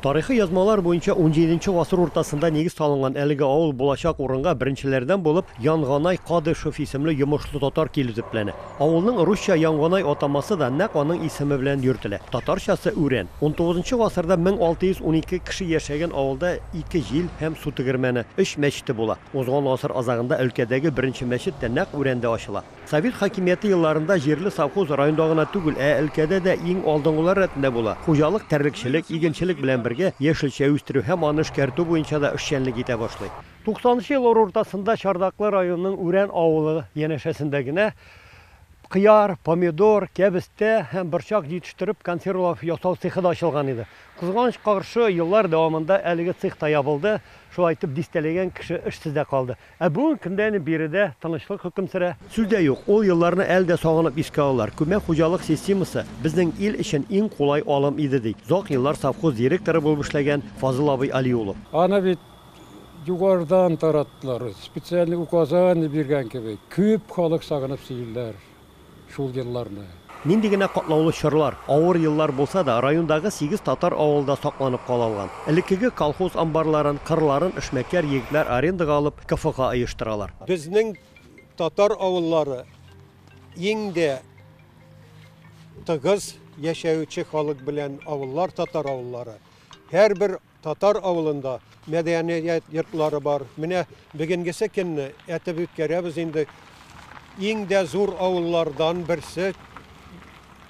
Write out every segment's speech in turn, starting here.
Тарихи язмалар буенча унҗиденче гасыр уртасында нигез салынган әлеге авыл булачак урынга беренчеләрдән булып Янганай Кадышев исемле йомышлы татар килү төпләнә. Авылның русча Янганай атамасы да нәкъ аның исеме белән йөртелә. Татарчасы Үрән. Унтугызынчы гасырда мең алты йөз унике кеше яшәгән авылда ике җил һәм су тегермәне, өч мәчете була. Узган гасыр азагында өлкәдәге беренче мәчет тә нәкъ Үрәндә ачыла. Совет хакимияте елларында җирле совхоз районда гына түгел, ә өлкәдә дә иң алдынгылар рәтендә була. Хуҗалык терлекчелек, игенчелек белән бергә, яшелчә үстерү һәм аны эшкәртү буенча да эшчәнлек итә башлый. Туксанынчы еллар уртасында Чардаклы районының Үрән авылы янәшәсендә генә кыяр, помидор, кәбестә һәм борчак җитештереп, консервалар ясау цехы да ачылган иде. Кызганычка каршы, еллар дәвамында әлеге цех та ябылды, шулай итеп, дистәләгән кеше эшсез дә калды. Ә бүген көндә әни биредә тынычлык хөкем сөрә. Сүз дә юк, ул елларны әле дә сагынып искә алалар. Күмәк хуҗалык системасы безнең ил өчен иң кулай алым иде, ди озак еллар совхоз директоры булып эшләгән Фазыл абый Алиулов. Аны бит югарыдан тараттылар, специальный указание биргән кебек, күп халык сагынып сөйлиләр. шул елларны. Нинди генә катлаулы чорлар, авыр еллар булса да, райондагы сигез татар авылы да сакланып кала алган. Элеккеге колхоз амбарларын, кырларын эшмәкәр егетләр арендага алып, КФОга оештыралар. Безнең татар авыллары иң дә тыгыз яшәүче халык белән авыллар татар авыллары. Һәрбер. Татар авылында мәдәният йортлары бар. Менә бегенгесе көнне әтеп үткәрәбез инде. Иң дә зур авыллардан берсе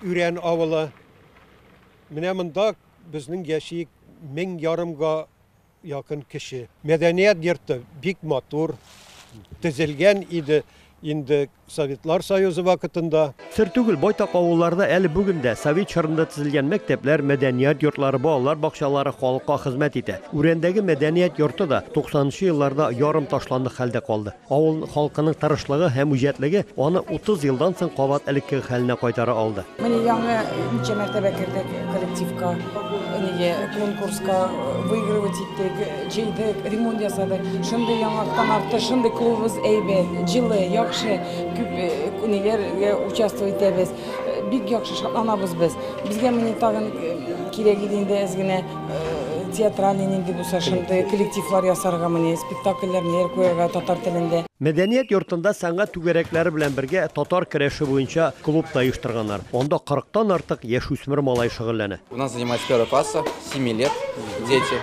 Үрән авылы. Менә монда безнең яшик мең ярымга якын кеше. Мәдәният йорты бик матур тезелгән иде. Инде Советлар Союзы вакытында. Сер түгел, байтак авылларда әле бүген дә совет чорында төзелгән мәктәпләр, мәдәният йортлары, балалар бакчалары халыкка хезмәт итә. Үрәндәге мәдәният йорты да 90 нчы елларда ярым ташландык хәлдә калды. Авыл халкының тырышлыгы һәм үҗәтлеге аны 30 елдан соң кабат элеккеге хәленә кайтара алды. Менә яңа ничә мәртәбә кердек коллективка, конкурска выигрывать иттек. Җыйдык, ремонт ясадык. Шундый яңактан артык, шундый клубыбыз әйбәт, җылы, яхшы. Күп ниләргә участвовать итәбез. Бик яхшы шатланабыз без. Безгә менә тагын кирәк иде инде әз генә театральный нинди булса шундый коллективлар ясарга менә, спектакльләр, ниләр куярга татар телендә. Мәдәният йортында сәнгать түгәрәкләре белән бергә татар керәше буенча клуб та оештырганнар. Анда кырыктан артык яшүсмер малай шөгыльләнә. У нас занимается первого класса, семи лет, дети.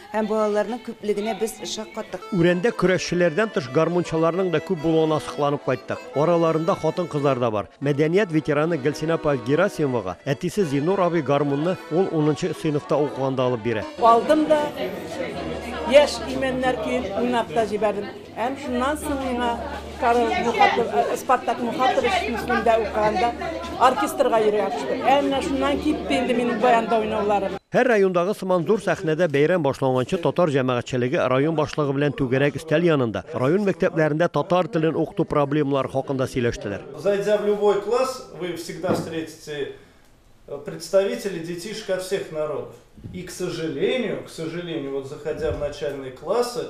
Һәм балаларның күплегенә без шаккаттык. Үрәндә көрәшчеләрдән тыш гармунчыларның да күп булуына сокланып кайттык. Араларында хатын-кызлар да бар. Мәдәният ветераны Гөлсинә апа Герасимовага әтисе Зиннур абый гармунны ул унынчы сыйныфта укыганда алып бирә. Алдым да, яшь имәннәр көен уйнап та җибәрдем. Һәм шуннан соң миңа Карл Мухатов, э, Спартак Мухатович исемендә укыганда оркестрга йөрергә куштык. Ә менә шуннан китте инде минем баянда уйнауларым. Һәр райондагы сыман зур сәхнәдә бәйрәм башланганчы татар җәмәгатьчелеге район башлыгы белән түгәрәк өстәл янында район мәктәпләрендә татар телен укыту проблемалары хакында сөйләштеләр. Зайдя в любой класс, вы всегда встретите э, представителей детишек от всех народов. И, к сожалению, к сожалению, вот заходя в начальные классы,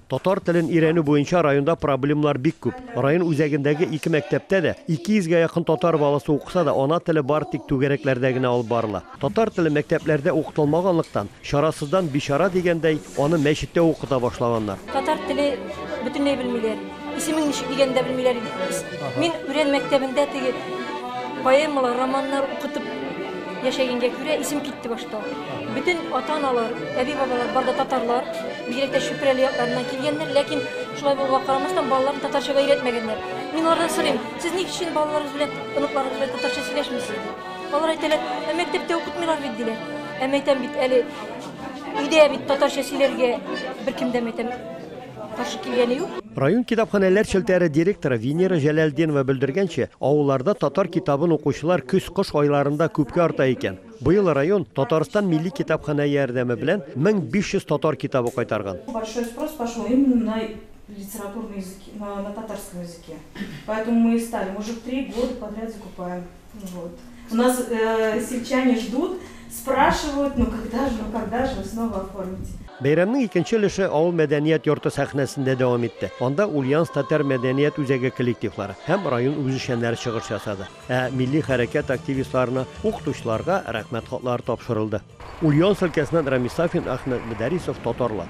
Татар телен өйрәнү буенча районда проблемнар бик күп. Район үзәгендәге ике мәктәптә дә 200 гә якын татар баласы укыса да, ана теле бары тик түгәрәкләрдә генә алып барыла. Татар теле мәктәпләрдә укытылмаганлыктан, чарасыздан бичара дигәндәй, аны мәчеттә укыта башлаганнар. Татар теле бөтенләй белмиләр. Исемен ничек дигәнне дә белмиләр иде. Мин Үрән мәктәбендә теге поэмалар, романнар укытып, Яшәгәнгә күрә исем китте башта. Бөтен ата-аналар, әби-бабалар бар да татарлар, бигрәк тә Чүпрәле якларыннан килгәннәр, ләкин шулай булуга карамастан балаларын татарчага өйрәтмәгәннәр. Мин алардан сорыйм, сез ник өчен балаларыгыз белән, оныкларыгыз белән татарча сөйләшмисез? Алар әйтәләр, ә мәктәптә укытмыйлар бит, диләр. Ә мәйтәм бит әле, өйдә бит татарча сөйләргә беркем дә мәйтәм. Каршы килгәне юк. Район китапханәләр челтәре директоры Венера Җәләлдинова белдергәнчә, авылларда татар китабын укучылар көз-кыш айларында күпкә арта икән. Быел район Татарстан милли китапханә ярдәме белән 1500 татар китабы кайтарган. Большой спрос пошел именно на литературные языки, на татарском языке. Поэтому мы и стали, мы уже в три года подряд закупаем. Вот. У нас э, сельчане ждут, спрашивают, ну когда же, ну когда же вы снова оформите. Бәйрәмнең икенче өлеше авыл мәдәният йорты сәхнәсендә дәвам итте. Анда Ульяновск татар мәдәният үзәге коллективлары һәм район үзешчәннәре чыгыш ясады. Ә милли хәрәкәт активистларына, укытучыларга рәхмәт хатлары тапшырылды. Ульяновск өлкәсеннән Рамис Сафин, Ахмед Мөдәрисов, Татарлар.